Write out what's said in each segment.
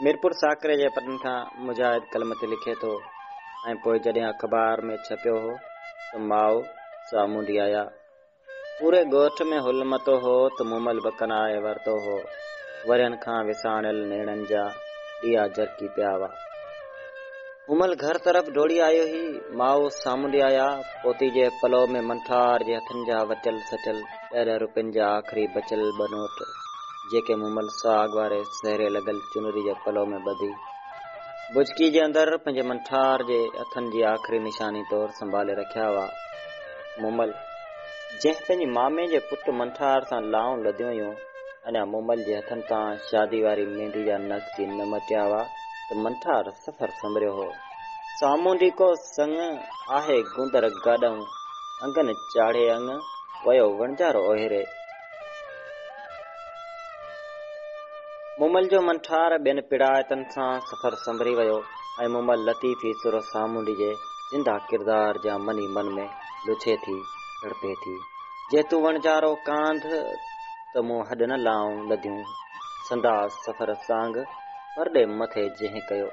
ميرپور ساڪري جي پٽن کان مجاهد قلم تي لکي ٿو ۽ پوء جڏهن اخبار ۾ ڇپيو هو ته ماء سامونڊي آيا. پوري ڳوٺ ۾ هل متو هو ته مومل بکن آهي ورتو هو. ورهين کان وساڻيل نيڻن جا ڏيئا جرڪي پيا هئا. امل گهر طرف ڊوڙي آيو هي، ماء سامونڊي آيا، پوتي جي پلو ۾ منٺار جي هٿن جا وچل سچل ڏهه ڏهه روپين جا آخري بچيل ٻه نوٽ، جيڪي مومل سهاڳ واري سهري لڳل چنري جي پلو ۾ ٻڌي، بجڪي جي اندر پنهنجي منٺار جي هٿن جي آخري نشاني طور سنڀالي رکيا هئا. مومل، جنهن پنهنجي مامي جي پٽ منٺار سان لائون لڌيون هيون، اڃا مومل جي هٿن تان شادي واري ميندي جا نقش ئي نه مٽيا هئا ته منٺار سفر سنبريو هو. سامهون ڊيڪو سڱ آهي گوندر گاڏئون انگن چاڙهي انگ ويو وڻجارو اوهيري. مومل جو منٺار ٻين پيڙائتن سان سفر سنبري ويو ۽ مومل لطيفي سر سامونڊي جي زنده ڪردار جيان من ئي من ۾ لڇي ٿي، تڙپي ٿي. جي تون وڻجارو ڪانڌ ته مون هڏ نه لائون لڌيون سنداس سفر سانگ پرڏي مٿي جنهن ڪيو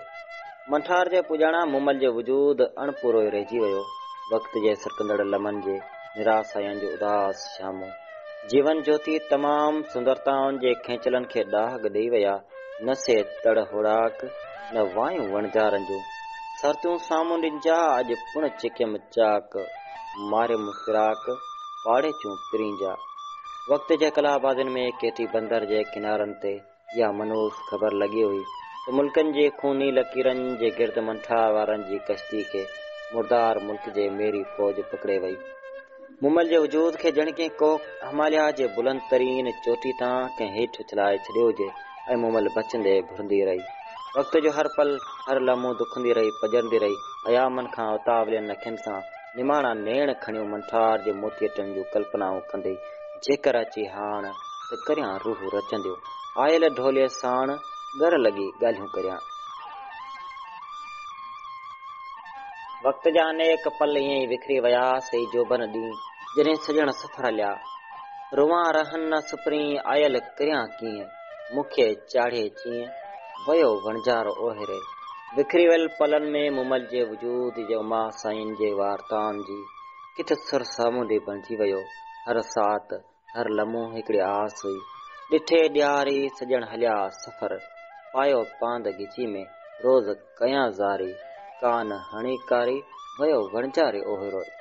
منٺار جي پڄاڻان مومل جي وجود اڻ پورو ئي رهجي ويو وقت جي سرڪندڙ لمحن جي نراساين جو اداس شامو جيون جوتي تمام سندرتائن جي کينچلن کي ڏاهڳ ڏئي ويا نه سي تڙ هوڙاڪ نه وايون وڻجارن جون سرتيون سامهون ڏنجا اڄ پڻ چڪيم چاڪ. ماري مفراق پاڙي چون پرين جا. وقت جي ڪلا آبادين ۾ ڪيٿي بندر جي ڪنارن تي اها منحوس خبر لڳي هئي ته ملڪن جي خوني لڪيرن جي گرد منٺاء وارن جي ڪشتي کي مردار ملڪ جي ميري فوج پڪڙي وئي. مومل جي وجود کي ڄڻ ڪنهن ڪوهه هماليا جي بلند ترين چوٽي تان ڪنهن هيٺ اڇلائي ڇڏيو هجي. اي مومل بچندي گهرندي رهي وقت جو هر پل هر لمحو دکندي رهي پڄرندي رهي ايامن کان اتاولين اکين سان نماڻا نيڻ کڻيون منٺار جي موتي ٽن جون ڪلپنائون ڪندي جيڪر اچي هاڻ ته ڪريان روح رچنديون آيل ڍوليء ساڻ ڳر لڳي ڳالهيون ڪريان. وقت جا انيڪ پل ائين ئي وکري ويا سي جوڀن ڏينهن جڏهن سڄڻ سفر هليا. روئان رهن نه سپرين، آيل ڪريان ڪيئن، مون کي چاڙهي چيئن، ويو وڻجارو اوهيري. وکري ويل پلن ۾ مومل جي وجود جو ماء سائين جي وارتائن جي ڪٿ سر سامونڊي بڻجي ويو. هر ساعت، هر لمحو هڪڙي آس هئي. ڏٺي ڏياري سڄڻ هليا سفر، پايو پاند ڳچي ۾، روز. ڪيان زاري، ڪان هڻي ڪاري، ويو وڻجاري اوهي روئي.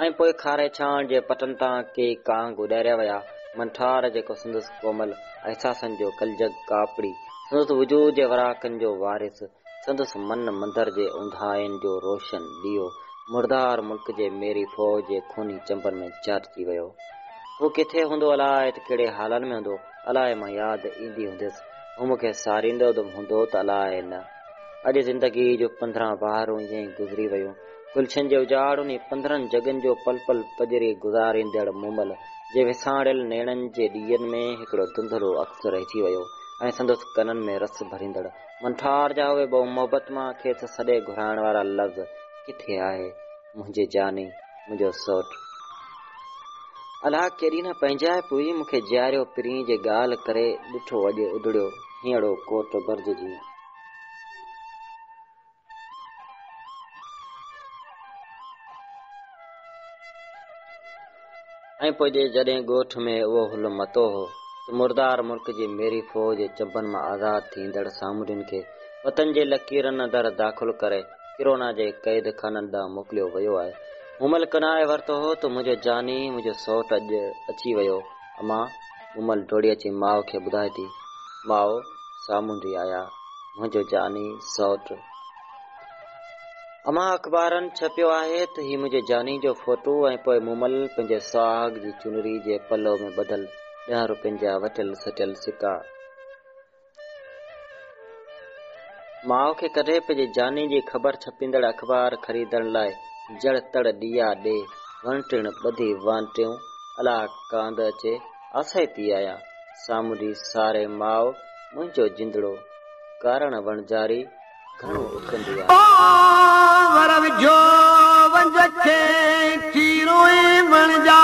۽ پوء کاري ڇانڙ جي پٽن تان ڪي ڪانگ اڏاريا ويا، منٺار جيڪو سندس ڪومل احساسن جو ڪلجڳ ڪاپڙي، سندس وجود جي وراڪن جو وارث، سندس من مندر جي اونداهين جو روشن ڏيئو مردار ملڪ جي ميري فوج جي خوني چنبن ۾ چاٽجي ويو. هو ڪٿي هوندو الاء ته ڪهڙي حالن ۾ هوندو الاء مان ياد ايندي هونديس هو مون کي ساريندو به هوندو ته الاء نه. اڄ زندگي جون پندرهن بهارون ائين ئي گذري ويون. گلشن جي اجاڙ انهي پندرهن جڳن جو پل پل پڄري گذاريندڙ مومل جي وساڻيل نيڻن جي ڏيئن ۾ هڪڙو ڌنڌلو عڪس رهجي ويو ۽ سندس ڪنن ۾ رس ڀريندڙ منٺار جا اهي بهو محبت مان کيس سڏي گهرائڻ وارا لفظ ڪٿي آهي منهنجي جاني منهنجو سوٽ الاء ڪيڏي نه پنهنجائپ هئي مون کي جياريو پرين جي ڳالهه ڪري ڏٺو اڄ اڌڙيو هينئڙو ڪوٽ برج جيئن. ۽ پوء جڏهن ڳوٺ ۾ اهو هلو متو هو ته مردار ملڪ جي ميري فوج چنبن مان آزاد ٿيندڙ سامونڊين کي وطن جي لڪيرن اندر داخل ڪري ڪرونا جي قيد خانن ڏانهن موڪليو ويو آهي. مون ملڪ ناهي ورتو هو ته منهنجو جاني، منهنجو سئوٽ اڄ اچي ويو. اما مومل ڊوڙي اچي ماء کي ٻڌائي ٿي، ماء سامهون ڊي آيا، منهنجو جاني سئوٽ. اما اخبارن ڇپيو آهي ته هي منهنجي جاني جو فوٽو ۽ پوء مومل پنهنجي سهاڳ جي چنري جي پلو ۾ ٻڌل ڏهن روپين جا وٽيل سٽيل سڪا. ماء کي ڪڏهن پنهنجي جاني جي خبر ڇپيندڙ اخبار خريدڻ لاء جڙ تڙ ڏيئا ڏي، وڻ ٽڻ ٻڌي وانٽيون الا ڪانڌ اچي آسائي پي آيان. سامونڊي ساري ماء منهنجو جندڙو ڪارڻ وڻجاري گهڻو اڪرندي آهي. ڀنور جو ونج کي ٿي روئين وڻجاري.